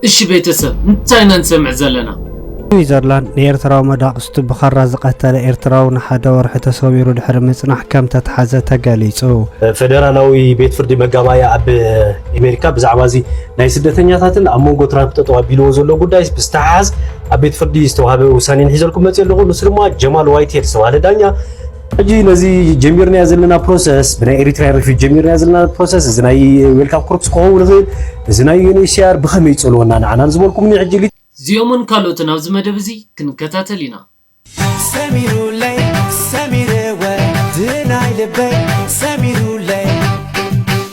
እሺ ቤተሰብ እንታይ ኢና ንሰምዕ ዘለና። ስዊዘርላንድ ንኤርትራዊ መዳቕስቱ ብኻራ ዝቐተለ ኤርትራዊ ንሓደ ወርሒ ተሰዊሩ ድሕሪ ምጽናሕ ከም ተትሓዘ ተገሊጹ። ፈደራላዊ ቤት ፍርዲ መጋባእያ ኣብ ኣሜሪካ ብዛዕባ እዚ ናይ ስደተኛታትን ኣብ መንጎ ትራምፕ ጠጠው ኣቢልዎ ዘሎ ጉዳይ ብዝተሓሓዝ ኣብ ቤት ፍርዲ ዝተዋህበ ውሳኔ ንሒዘልኩም መፅየ ኣለኹ። ንሱ ድማ ጀማል ዋይትሄድ ዝተባህለ ዳኛ ሕጂ ነዚ ጀሚርናዮ ዘለና ፕሮሰስ ብናይ ኤሪትራያን ሪፊጅ ጀሚርናዮ ዘለና ፕሮሰስ እዚ ናይ ዌልካም ኮርፕስ ክኸውን ይኽእል እዚ ናይ ዩኤንኤችሲኣር ብኸመይ ይጸልወና ንዓና ንዝበልኩምኒ ሕጂ እዚኦምን ካልኦትን ኣብዚ መደብ እዚ ክንከታተል ኢና። ሰሚሩለይ ሰሚረ ወድናይ ልበይ ሰሚሩለይ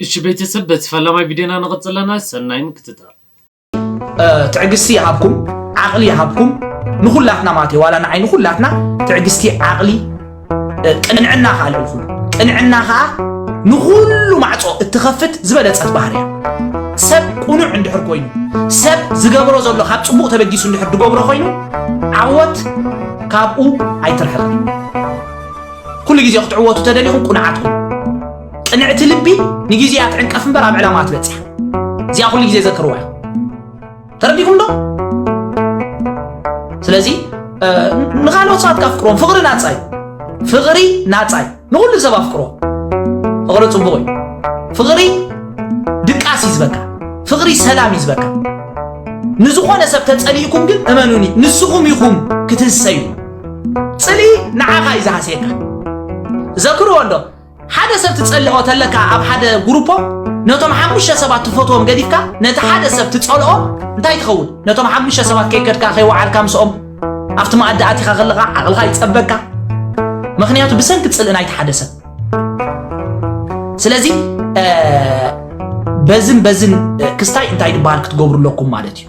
እሺ ቤተሰብ በቲ ፈላማይ ቪድዮና ንቅፅል ኣለና ሰናይ ምክትታል። ትዕግስቲ ይሃብኩም ዓቕሊ ይሃብኩም ንኹላትና ማለት እዩ ዋላ ንዓይ ንኹላትና ትዕግስቲ ዓቕሊ ቅንዕና ከዓ ልዕሊ ኩሉ ቅንዕና ከዓ ንኹሉ ማዕፆ እትኸፍት ዝበለፀት ባህር እያ ሰብ ቁኑዕ እንድሕር ኮይኑ ሰብ ዝገብሮ ዘሎ ካብ ፅቡቕ ተበጊሱ እንድሕር ዝገብሮ ኮይኑ ዓወት ካብኡ ኣይትርሕቕ ኩሉ ግዜ ክትዕወቱ ተደሊኹም ቁኑዓት ኩኑ። ቅንዕቲ ልቢ ንግዜ እያ ትዕንቀፍ እምበር ኣብ ዕላማኣ ትበጽሕ። እዚኣ ኩሉ ግዜ ዘክርዋ ኢኹም። ተረዲእኩም ዶ? ስለዚ ንኻልኦት ሰባት ካፍቅሮም ፍቕሪ ናጻ እዩ። ፍቕሪ ናጻ እዩ። ንኹሉ ሰብ ኣፍቅሮ። ፍቕሪ ጽቡቕ እዩ። ፍቕሪ ድቃስ እዩ ዝበካ። ፍቕሪ ሰላም እዩ ዝበካ። ንዝኾነ ሰብ ተጸሊእኩም ግን እመኑኒ ንስኹም ኢኹም ክትህሰዩ። ፅልኢ ንዓኻ እዩ ዝሃስየካ ዘክርዎ እንዶ ሓደ ሰብ ትጸልኦ ተለካ ኣብ ሓደ ጉሩፖ ነቶም ሓሙሽተ ሰባት ትፈትዎም ገዲፍካ ነቲ ሓደ ሰብ ትጸልኦ እንታይ ትኸውን ነቶም ሓሙሽተ ሰባት ከይከድካ ከይወዓልካ ምስኦም ኣብቲ መኣዲ ኣቲኻ ከለኻ ዓቕልኻ ይጸበካ ምክንያቱ ብሰንኪ ጽልኢ ናይቲ ሓደ ሰብ ስለዚ በዝን በዝን ክስታይ እንታይ ድበሃል ክትገብሩ ኣለኩም ማለት እዩ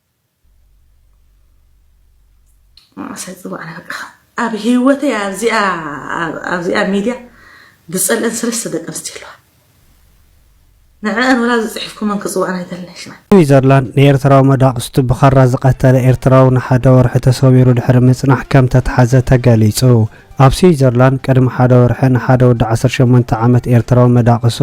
መናእሰይ ፅባሕ በቃ ኣብ ሂወተይ ኣብዚኣ ሚድያ ዝፀልእን ሰለስተ ደቂ ኣንስትዮ ኣለዋ ንዐኣን ወላ ዝፅሒፍኩመን ክፅውዐን ኣይደልን ሽመን። ስዊዘርላንድ ንኤርትራዊ መዳቕስቱ ብኻራ ዝቐተለ ኤርትራዊ ንሓደ ወርሒ ተሰዊሩ ድሕሪ ምጽናሕ ከምተትሓዘ ተገሊጹ። ኣብ ስዊዘርላንድ ቅድሚ ሓደ ወርሒ ንሓደ ወዲ ዓሰርተ ሸሞንተ ዓመት ኤርትራዊ መዳቕሱ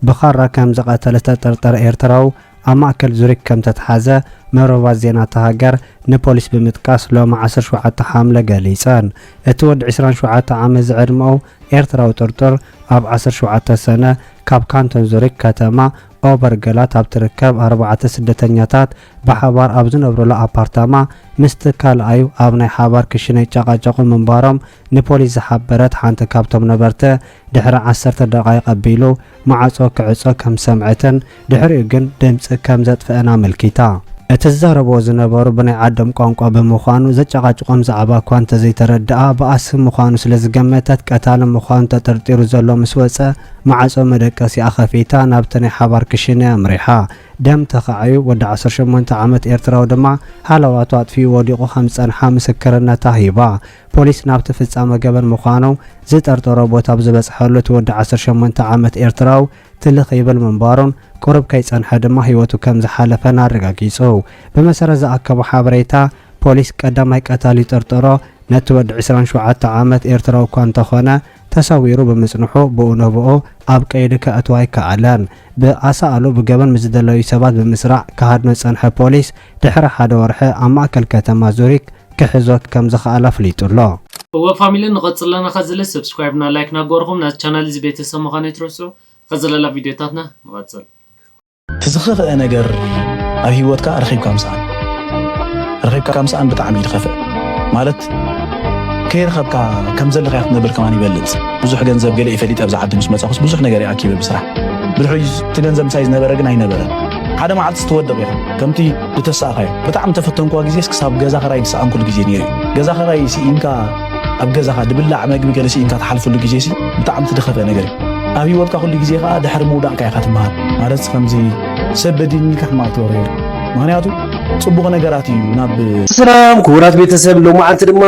ብኻራ ከምዝቐተለ ዝተጠርጠረ ኤርትራዊ ኣብ ማእከል ዙሪክ ከም እተትሓዘ መርበባት ዜና እታ ሃገር ንፖሊስ ብምጥቃስ ሎሚ ዓሰርተ ሸውዓተ ሓምለ ገሊጸን። እቲ ወዲ ዕስራን ሸውዓተ ዓመት ዝዕድመኡ ኤርትራዊ ጥርጡር ኣብ ዓሰርተ ሸውዓተ ሰነ ካብ ካንቶን ዙሪክ ከተማ ኦበርገላት ኣብ እትርከብ ኣርባዕተ ስደተኛታት ብሓባር ኣብ ዝነብሩላ ኣፓርታማ ምስቲ ካልኣዩ ኣብ ናይ ሓባር ክሽነ ይጨቓጨቑ ምንባሮም ንፖሊስ ዝሓበረት ሓንቲ ካብቶም ነበርቲ፣ ድሕሪ ዓሰርተ ደቓይቕ ኣቢሉ ማዕጾ ክዕጾ ከም ዝሰምዐትን ድሕሪኡ ግን ድምጺ ከም ዘጥፍአን ኣመልኪታ። እቲ ዝዛረብዎ ዝነበሩ ብናይ ዓዶም ቋንቋ ብምዃኑ ዘጨቓጭቖም ዛዕባ እኳ እንተዘይተረድኣ፣ በኣሲ ምዃኑ ስለ ዝገመተት ቀታሊ ምዃኑ ተጠርጢሩ ዘሎ ምስ ወጸ ማዕጾ መደቀሲኣ ከፊታ ናብቲ ናይ ሓባር ክሽነ'ያ ኣምሪሓ። ደም ተኻዕዩ ወዲ ዓሰርተ ሸሞንተ ዓመት ኤርትራዊ ድማ ሃለዋቱ ኣጥፊኡ ወዲቑ ከም ዝጸንሓ ምስክርነታ ሂባ። ፖሊስ ናብቲ ፍጻመ ገበን ምዃኑ ዝጠርጠሮ ቦታ ብዝበጽሐሉ እቲ ወዲ ዓሰርተ ሸሞንተ ዓመት ኤርትራዊ ትልኽ ይብል ምንባሩን ቁሩብ ከይጸንሐ ድማ ህይወቱ ከም ዝሓለፈን ኣረጋጊጹ። ብመሰረት ዝኣከቦ ሓበሬታ ፖሊስ ቀዳማይ ቀታሊ ዝጠርጠሮ ነቲ ወዲ ዕስራን ሸውዓተ ዓመት ኤርትራዊ እኳ እንተኾነ ተሰዊሩ ብምጽንሑ ብኡ ንብኡ ኣብ ቀይዲ ከእትዎ ኣይከኣለን። ብኣሳእሉ ብገበን ምስ ዝደለዩ ሰባት ብምስራዕ ክሃድኖ ዝጸንሐ ፖሊስ ድሕሪ ሓደ ወርሒ ኣብ ማእከል ከተማ ዙሪክ ክሕዞ ከም ዝኸኣል ኣፍሊጡ ኣሎ። እወ ፋሚሊ ንቀጽል ኣለና ከዝለ ሰብስክራይብ እና ላይክ ናገበርኹም ናዚ ቻናል እዚ ቤተሰብ ምዃን ኣይትረስዑ ከዝለ ላብ ቪድዮታትና ንቀጽል። እቲ ዝኸፍኤ ነገር ኣብ ሂወትካ ረኺብካ ምስኣን ረኺብካ ምስኣን ብጣዕሚ እዩ ዝኸፍእ ማለት ከይረኸብካ ከም ዘለካ ክትነብር ከማን ይበልጽ ብዙሕ ገንዘብ ገለ እዩ ፈሊጠ ኣብዚ ዓዲ ምስ መጻኹስ ብዙሕ ነገር እየ ኣኪበ ብስራሕ ብድሕሪኡ እቲ ገንዘብ ምሳይ ዝነበረ ግን ኣይነበረን ሓደ መዓልቲ ትወድቕ ኢኻ ከምቲ ዝተሳእኻዮ ብጣዕሚ ተፈተንኳ ግዜስ ክሳብ ገዛ ክራይ ዝሰኣንኩሉ ግዜ ነይሩ እዩ ገዛ ክራይ ስኢንካ ኣብ ገዛኻ ድብላዕ መግቢ ገለ ስኢንካ ትሓልፍሉ ግዜ ሲ ብጣዕሚ ትደኸፈ ነገር እዩ ኣብ ሂወትካ ኩሉ ግዜ ከዓ ድሕሪ ምውዳቕካ ኢኻ ትመሃር ማለት ከምዚ ሰብ በዲኒካ ሕማቕ ትበሮ የለ ምክንያቱ ፅቡቕ ነገራት እዩ ናብ ሰላም ክቡራት ቤተሰብ ሎማዓንቲ ድማ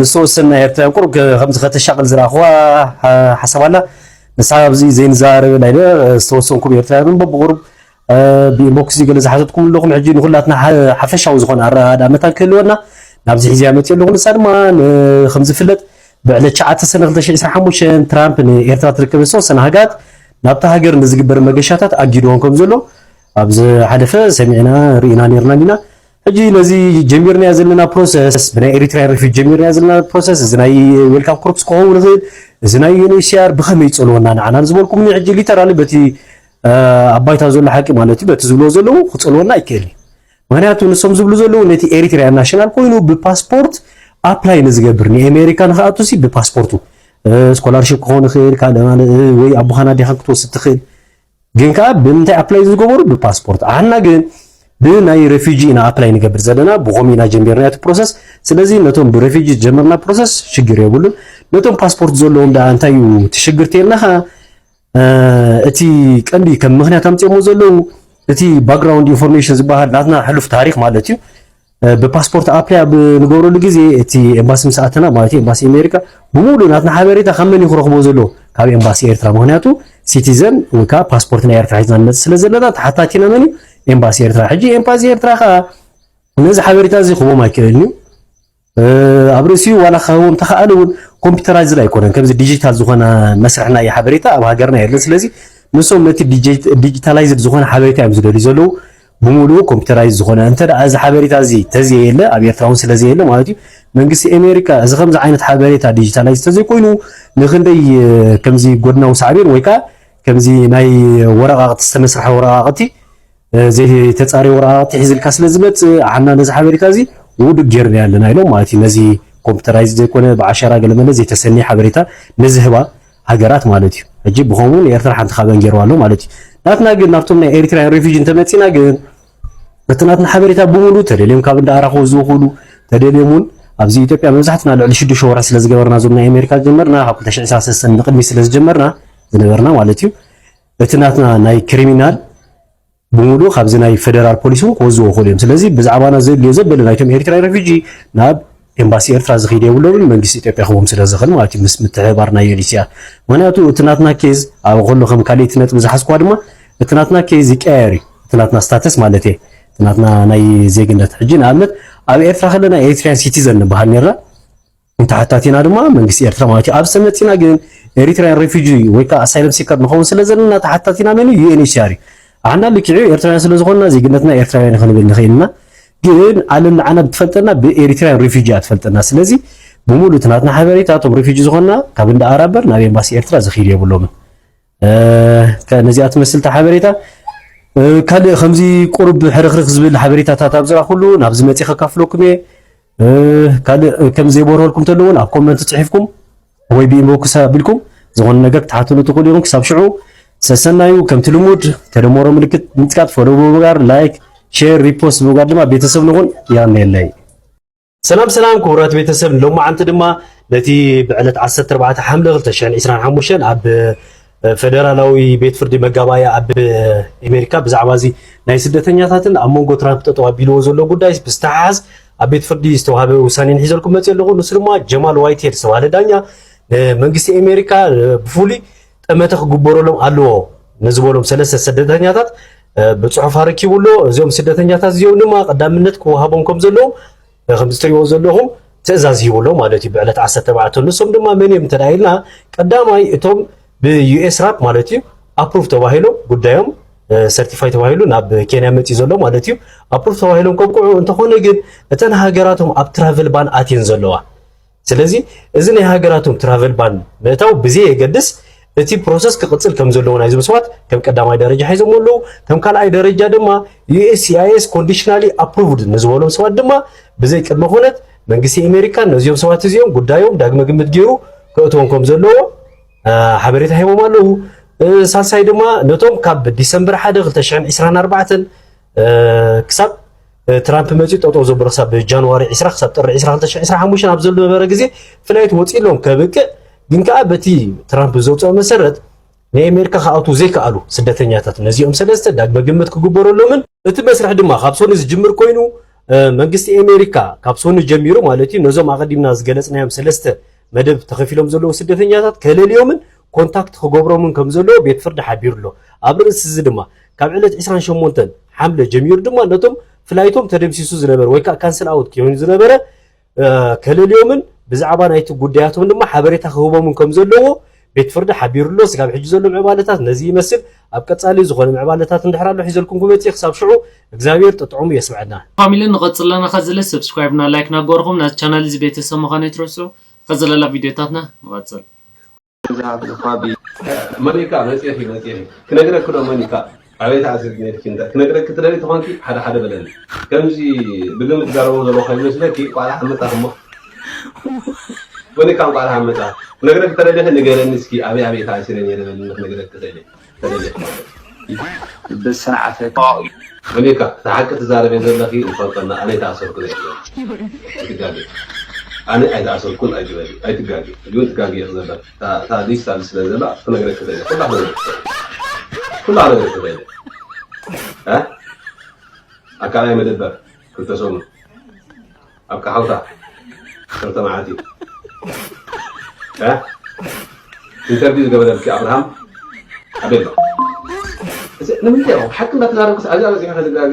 ንዝተወሰና ኤርትራውያን ቁሩብ ከምዚ ከተሻቅል ዝረኣኹዋ ሓሳብ ኣላ ንሳ ኣብዚ ዘይንዘራረበ ናይ ዝተወሰንኩም ኤርትራውያን እምበ ብቑሩብ ብኢንቦክስ ገለ ዝሓተትኩም ኣለኹም ሕጂ ንኹላትና ሓፈሻዊ ዝኾነ ኣረዳዳ መታን ክህልወና ናብዚ ሒዝያ መፅዮ ኣለኹ ንሳ ድማ ከም ዝፍለጥ ብዕለት ሸዓተ ሰነ 2025 ትራምፕ ንኤርትራ ትርከብ ዝተወሰነ ሃገራት ናብታ ሃገር ንዝግበር መገሻታት ኣጊድዎን ከም ዘሎ ኣብ ዝሓለፈ ሰሚዕና ርኢና ነርና ኢና ሕጂ ነዚ ጀሚርናዮ ዘለና ፕሮሰስ ብናይ ኤሪትራያን ሪፊጅ ጀሚርናዮ ዘለና ፕሮሰስ እዚ ናይ ዌልካም ኮርፕስ ክኸውን ይኽእል እዚ ናይ ዩኤንኤችሲኣር ብኸመይ ይጸልወና ንዓና ዝበልኩምኒ ሕጂ ሊተራሊ በቲ ኣብ ባይታ ዘሎ ሓቂ ማለት እዩ በቲ ዝብልዎ ዘለዉ ክጸልወና ኣይክእልን ምክንያቱ ንሶም ዝብሉ ዘለዉ ነቲ ኤሪትራያን ናሽናል ኮይኑ ብፓስፖርት ኣፕላይ ንዝገብር ንኤሜሪካ ንክኣቱ ሲ ብፓስፖርቱ ስኮላርሽፕ ክኸውን ይኽእል ካልእ ወይ ኣቦኻና ዲኻን ክትወስድ ትኽእል ግን ከኣ ብምንታይ ኣፕላይ ዝገበሩ ብፓስፖርት ኣና ግን ብናይ ሬፊጂ ኢና ኣፕላይ ንገብር ዘለና ብኾም ኢና ጀሚርና እቲ ፕሮሰስ ስለዚ ነቶም ብሬፊጂ ጀመርና ፕሮሰስ ሽግር የብሉን ነቶም ፓስፖርት ዘለዎም ደኣ እንታይ እዩ እቲ ሽግር ተልና ከኣ እቲ ቀንዲ ከም ምክንያት ኣምፅኦሞ ዘለዉ እቲ ባክግራውንድ ኢንፎርሜሽን ዝበሃል ናትና ሕሉፍ ታሪክ ማለት እዩ ብፓስፖርት ኣፕላይ ኣብ ንገብረሉ ግዜ እቲ ኤምባሲ ምስ ኣተና ማለት እዩ ኤምባሲ ኣሜሪካ ብምሉእ ናትና ሓበሬታ ካብ መን እዩ ክረኽቦ ዘለዎ ካብ ኤምባሲ ኤርትራ ምክንያቱ ሲቲዘን ወይ ከዓ ፓስፖርት ናይ ኤርትራ ሒዝና ንመፅእ ስለ ዘለና ተሓታቲ ኢና መን እዩ ኤምባሲ ኤርትራ ሕጂ ኤምባሲ ኤርትራ ከዓ ነዚ ሓበሬታ እዚ ክህቦም ኣይክእልን እዩ ኣብ ርእሲኡ ዋላ ክኸውን ተኸኣለ እውን ኮምፒውተራይዝድ ኣይኮነን ከምዚ ዲጂታል ዝኾነ መስርሕ ናይ ሓበሬታ ኣብ ሃገርና የለን ስለዚ ንሶም ነቲ ዲጂታላይዝድ ዝኾነ ሓበሬታ እዮም ዝደልዩ ዘለዉ ብሙሉኡ ኮምፒተራይዝ ዝኾነ እንተ ደኣ እዚ ሓበሬታ እዚ ተዘየለ ኣብ ኤርትራ ውን ስለዘየለ ማለት እዩ መንግስቲ ኤሜሪካ እዚ ከምዚ ዓይነት ሓበሬታ ዲጂታላይዝ ተዘይኮይኑ ንክንደይ ከምዚ ጎድናዊ ሳዕቤን ወይ ከኣ ከምዚ ናይ ወረቓቕቲ ዝተመስርሐ ወረቓቕቲ ዘይተጻረየ ወረቓቕቲ ሒዝልካ ስለዝመጽእ ዓና ነዚ ሓበሬታ እዚ ውዱእ ጌርናዮ ኣለና ኢሎም ማለት እዩ ነዚ ኮምፒተራይዝ ዘይኮነ ብዓሸራ ገለመለ ዘይተሰነየ ሓበሬታ ንዝህባ ሃገራት ማለት እዩ። ሕጂ ብኸምኡ ንኤርትራ ሓንቲ ካበን ገይርዋ ኣሎ ማለት እዩ። ናትና ግን ናብቶም ናይ ኤሪትራውያን ሬፊጂ እንተመጺና ግን እቲ ናትና ሓበሬታ ብምሉ ተደልዮም ካብ እንዳ ኣራኽቦ ዝውክሉ ተደልዮም እውን ኣብዚ ኢትዮጵያ መብዛሕትና ልዕሊ ሽዱሽተ ወርሒ ስለ ዝገበርና እዞም ናይ ኣሜሪካ ዝጀመርና ካብ 223 ንቅድሚ ስለ ዝጀመርና ዝነበርና ማለት እዩ እቲ ናትና ናይ ክሪሚናል ብምሉኡ ካብዚ ናይ ፈደራል ፖሊስ እውን ክወዝዎ ይኽእሉ እዮም። ስለዚ ብዛዕባና ዘድልዮ ዘበለ ናይቶም ኤሪትራዊ ረፊጂ ናብ ኤምባሲ ኤርትራ ዝኸይድ የብሎምን መንግስቲ ኢትዮጵያ ክህቦም ስለ ዝኽእል ማለት እዩ ምስ ምትሕብባር ናይ ዩኤንኤችሲኣር ምክንያቱ እቲ ናትና ኬዝ ኣብ ከሎ ከም ካልእቲ ነጥቢ ዝሓዝኳ ድማ እቲ ናትና ኬዝ ይቀያየር እዩ እቲ ናትና ስታተስ ማለት እየ እቲ ናትና ናይ ዜግነት ሕጂ ንኣብነት ኣብ ኤርትራ ከለና ኤሪትሪያን ሲቲዘን ንበሃል ነርና ንተሓታቲና ድማ መንግስቲ ኤርትራ ማለት እዩ። ኣብዚ ተመጺና ግን ኤሪትራውያን ሬፊጂ ወይ ከዓ ኣሳይለም ሲከር ንኸውን ስለ ዘለና ተሓታቲና መን እዩ? ዩኤንኤችሲኣር እዩ። ኣሕና ልክዕ እዩ ኤርትራውያን ስለ ዝኾንና ዜግነትና ኤርትራውያን ክንብል ንኽእል ኢና። ግን ዓለም ንዓና ብትፈልጠና ብኤሪትራውያን ሬፊጂ እያ ትፈልጠና። ስለዚ ብምሉእ እቲ ናትና ሓበሬታ እቶም ሬፊጂ ዝኾንና ካብ እንዳ ኣራበር ናብ ኤምባሲ ኤርትራ ዝኽይድ የብሎምን። ነዚኣ ትመስል ሓበሬታ ካልእ ከምዚ ቁርብ ሕርክርክ ዝብል ሓበሬታታት ኣብ ዝራኹሉ ናብዚ መፂ ከካፍለኩም እየ ካልእ ከም ዘይበርሀልኩም ተሎ እውን ኣብ ኮመንት ፅሒፍኩም ወይ ብኢንቦክስ ኣቢልኩም ዝኾነ ነገር ክትሓትሉ ትኽእሉ ኢኹም ክሳብ ሽዑ ሰሰናዩ ከምቲ ልሙድ ተደመሮ ምልክት ምፅቃጥ ፎሎ ብምግባር ላይክ ሼር ሪፖስት ብምግባር ድማ ቤተሰብ ንኹን ያነለይ ሰላም ሰላም ክቡራት ቤተሰብ ሎማዓንቲ ድማ ነቲ ብዕለት 14 ሓምለ 2025 ኣብ ፈደራላዊ ቤት ፍርዲ መጋባያ ኣብ ኣሜሪካ ብዛዕባ እዚ ናይ ስደተኛታትን ኣብ መንጎ ትራምፕ ጠጠው ኣቢልዎ ዘሎ ጉዳይ ብዝተሓሓዝ ኣብ ቤት ፍርዲ ዝተዋሃበ ውሳኔ ንሒዘልኩም መፅእ ኣለኹ ንሱ ድማ ጀማል ዋይት ሄድ ዝተባሃለ ዳኛ መንግስቲ ኣሜሪካ ብፍሉይ ጠመተ ክግበረሎም ኣለዎ ንዝበሎም ሰለስተ ስደተኛታት ብፅሑፍ ኣረኪቡ ኣሎ እዚኦም ስደተኛታት እዚኦም ድማ ቀዳምነት ክወሃቦም ከም ዘለዎም ከም ዝትሪእዎ ዘለኹም ትእዛዝ ሂቡ ኣሎ ማለት እዩ ብዕለት 14 ንሶም ድማ መን እዮም እንተ ኢልና ቀዳማይ እቶም ብዩኤስ ራፕ ማለት እዩ ኣፕሩቭ ተባሂሎም ጉዳዮም ሰርቲፋይ ተባሂሉ ናብ ኬንያ መፅኡ ዘሎ ማለት እዩ ኣፕሩቭ ተባሂሎም ከብቅዑ እንተኾነ ግን እተን ሃገራቶም ኣብ ትራቨል ባን ኣትየን ዘለዋ ስለዚ እዚ ናይ ሃገራቶም ትራቨል ባን ምእታው ብዘይ የገድስ እቲ ፕሮሰስ ክቕጽል ከም ዘለዎ ናይ ዝምስዋት ከም ቀዳማይ ደረጃ ሒዞሞ ኣለዉ ከም ካልኣይ ደረጃ ድማ ዩኤስሲኣይኤስ ኮንዲሽናሊ ኣፕሩቭድ ንዝበሎም ሰባት ድማ ብዘይ ቅድመ ኩነት መንግስቲ ኣሜሪካ ነዚኦም ሰባት እዚኦም ጉዳዮም ዳግመ ግምት ገይሩ ክእትዎም ከም ዘለዎ ሓበሬታ ሂቦም ኣለዉ ሳልሳይ ድማ ነቶም ካብ ዲሰምበር 1 2024 ክሳብ ትራምፕ መፅኡ ጠጠው ዘብሎ ክሳብ ጃንዋሪ 20 ክሳብ ጥሪ 2025 ኣብ ዝነበረ ግዜ ፍላይት ወፂሎም ከብቅዕ ግን ከዓ በቲ ትራምፕ ዘውፅኦ መሰረት ናይ ኣሜሪካ ክኣትዉ ዘይከኣሉ ስደተኛታት ነዚኦም ሰለስተ ዳግመ ግምት ክግበረሎምን እቲ መስርሕ ድማ ካብ ሶኒ ዝጅምር ኮይኑ መንግስቲ ኣሜሪካ ካብ ሶኒ ጀሚሩ ማለት እዩ ነዞም ኣቐዲምና ዝገለፅናዮም ሰለስተ መደብ ተኸፊሎም ዘለዉ ስደተኛታት ከለልዮምን ኮንታክት ክገብሮምን ከም ዘለዎ ቤት ፍርዲ ሓቢሩ ኣሎ። ኣብ ርእሲ እዚ ድማ ካብ ዕለት ዕስራን ሸሞንተን ሓምለ ጀሚሩ ድማ ነቶም ፍላይቶም ተደምሲሱ ዝነበረ ወይ ከዓ ካንስል ኣውት ኮይኑ ዝነበረ ከለልዮምን ብዛዕባ ናይቲ ጉዳያቶም ድማ ሓበሬታ ክህቦምን ከም ዘለዎ ቤት ፍርዲ ሓቢሩ ኣሎ። ስጋብ ሕጂ ዘሎ ምዕባለታት ነዚ ይመስል። ኣብ ቀጻሊ ዝኾነ ምዕባለታት እንድሕር ኣሎ ሒዘልኩም ክመጽእ እየ። ክሳብ ሽዑ እግዝኣብሄር ጥጥዑሙ የስምዐና። ፋሚሊ ንቀጽል ኣለና ከዝለ ሰብስክራይብ እና ላይክ ናገበርኹም ናዚ ቻናል እዚ ቤተሰብ ምኻን ኣይትረስዑ ንቀጽለላ ቪድዮታትና ንቀጽል። መን ኢካ መጽየት እዩ መጽየት እዩ ክነግረኪ ዶ መን ኢካ። ኣበይ ተኣሲርኪ ነይርኪ እንተ ክነግረኪ ትደልዪ ተኾንኪ ሓደ ሓደ በለኒ ከምዚ ብግምት ዝዛረቦ ዘለኹ ከይመስለኪ እንቋዕ ደሓን መጻኺ እሞ ወኒካ እንቋዕ ደሓን መጻኺ ክነግረኪ ተደሊኺ ንገረኒ እስኪ ኣበይ ኣበይ ተኣሲረ ነይረ በልኒ ክነግረኪ ክእል ተደሊኺ ማለት ብስርዓተ ወኒካ እቲ ሓቂ ትዛረብዮ ዘለኺ ንፈልጦ እና ኣነ ኣይተኣሰርኩን ኣይትበሊ ኣይትጋገ ኣነ ኣይተኣሰርኩን ኣይትበሊ ኣይትጋገ ሕጂ እውን ትጋገ ኢኺ ዘለኺ እታ እታ ኣዲስ ኣብዚ ስለ ዘላ ክነግረኪ ደለ ኩላ ክነግረኪ ደለ ኩላ ክነግረኪ ደለ እ ኣብ ካልኣይ መደበር ክልተ ሰሙን ኣብ ካሓውታ ክልተ መዓልቲ እ ኢንተርቪው ዝገበረልኪ ኣብርሃም ኣበይ ኣሎ ንምንታይ ኢኹም ሓቂ እንዳተዛረብኩስ ኣብዛ በፂሑ ከዝጋገ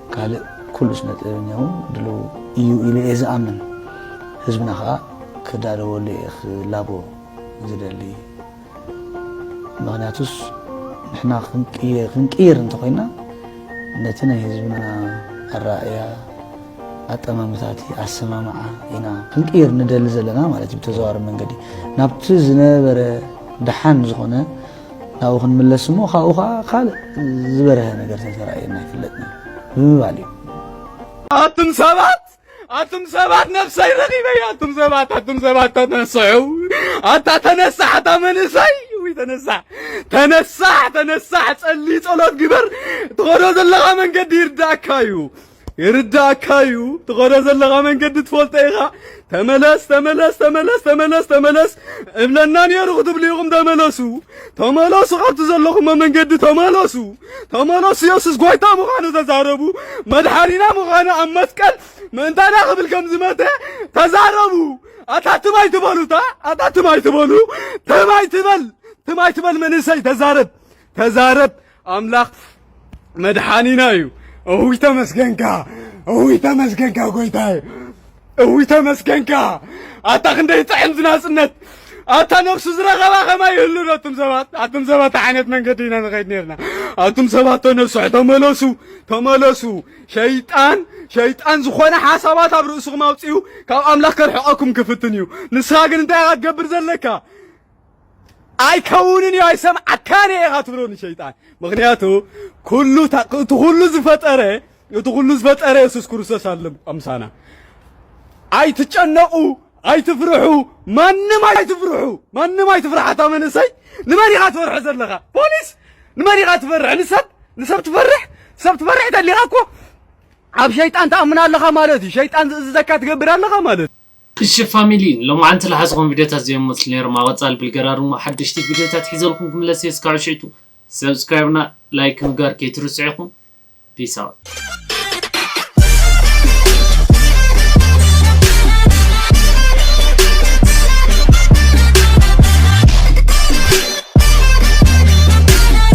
ካልእ ኩሉ ስነ ጥበበኛ እውን ድልው እዩ ኢለ እየ ዝኣምን። ህዝብና ከኣ ክዳለወሉ እየ ክላቦ ዝደሊ። ምኽንያቱስ ንሕና ክንቅይር እንተኾይና ነቲ ናይ ህዝብና ኣረኣእያ፣ ኣጠማምታቲ፣ ኣሰማምዓ ኢና ክንቅይር ንደሊ ዘለና ማለት እዩ። ብተዘዋዋሪ መንገዲ ናብቲ ዝነበረ ደሓን ዝኾነ ናብኡ ክንምለስ እሞ ካብኡ ከዓ ካልእ ዝበረሀ ነገር ተተራእየና ይፍለጥ ነይሩ ብምባል እዩ ኣቱም ሰባት ኣቱም ሰባት ነፍሰይ ረኺበያ ኣቱም ሰባት ኣቱም ሰባት ተነስዑ ኣታ ተነሳሕ ኣታ መንእሰይ ውይ ተነሳሕ ተነሳሕ ተነሳሕ ጸሊ ጸሎት ግበር ትኸዶ ዘለኻ መንገዲ ይርዳእካ እዩ ይርዳእካ እዩ ትኸዶ ዘለኻ መንገዲ ትፈልጦ ኢኻ ተመለስ ተመለስ ተመለስ ተመለስ ተመለስ እብለና ነይሩ ክትብሉ ኢኹም ተመለሱ ተመለሱ ካብቲ ዘለኹሞ መንገዲ ተመለሱ ተመለሱ የሱስ ጐይታ ምዃኑ ተዛረቡ መድሓኒና ምዃኑ ኣብ መስቀል ምእንታና ክብል ከም ዝመተ ተዛረቡ ኣታ ትም ኣይትበሉ እታ ኣታ ትም ኣይትበሉ ትም ኣይትበል ትም ኣይትበል መንእሰይ ተዛረብ ተዛረብ ኣምላኽ መድሓኒና እዩ እውይ ተመስገንካ እውይ ተመስገንካ ጎይታይ እውይ ተመስገንካ ኣታ ክንደይ ጥዕም ዝናጽነት ኣታ ነፍሱ ዝረኸባ ከማይ ይህሉ ዶ ኣቱም ሰባት ኣቱም ሰባት ዓይነት መንገዲ ኢና ንኸይድ ነርና ኣቱም ሰባት ዶ ነፍስሑ ተመለሱ ተመለሱ ሸይጣን ሸይጣን ዝኾነ ሓሳባት ኣብ ርእስኹም ኣውፅኡ ካብ ኣምላኽ ከርሕቐኩም ክፍትን እዩ ንስኻ ግን እንታይ ኢኻ ትገብር ዘለካ ኣይከውንን እዩ ኣይሰምዓካን እየ ኢኻ ትብሎ ንሸይጣን ምክንያቱ ኩሉ እቲ ኩሉ ዝፈጠረ እቲ ኩሉ ዝፈጠረ የሱስ ክርስቶስ ኣሎ ኣምሳና ኣይትጨነቑ ኣይትፍርሑ ማንም ኣይትፍርሑ ማንም ኣይትፍርሕ ኣታ መንእሰይ ንመን ኢኻ ትፈርሖ ዘለኻ ፖሊስ ንመን ኢኻ ትፈርሕ ንሰብ ንሰብ ትፈርሕ ሰብ ትፈርሕ ተሊኻ እኮ ኣብ ሸይጣን ትኣምን ኣለኻ ማለት እዩ ሸይጣን ዝእዝዘካ ትገብር ኣለኻ ማለት እዩ እሺ ፋሚሊ ሎማዓንቲ ልሓዝኹም ቪድዮታት ዘይም መስሉ ነይሮም ኣብ ቐፃሊ ብልገራ ድሞ ሓደሽቲ ቪድዮታት ሒዘልኩም ክምለስ እየ እስካዑ ሽዕቱ subscribe እና like ምግባር ከይትርስዑ ኢኹም peace out።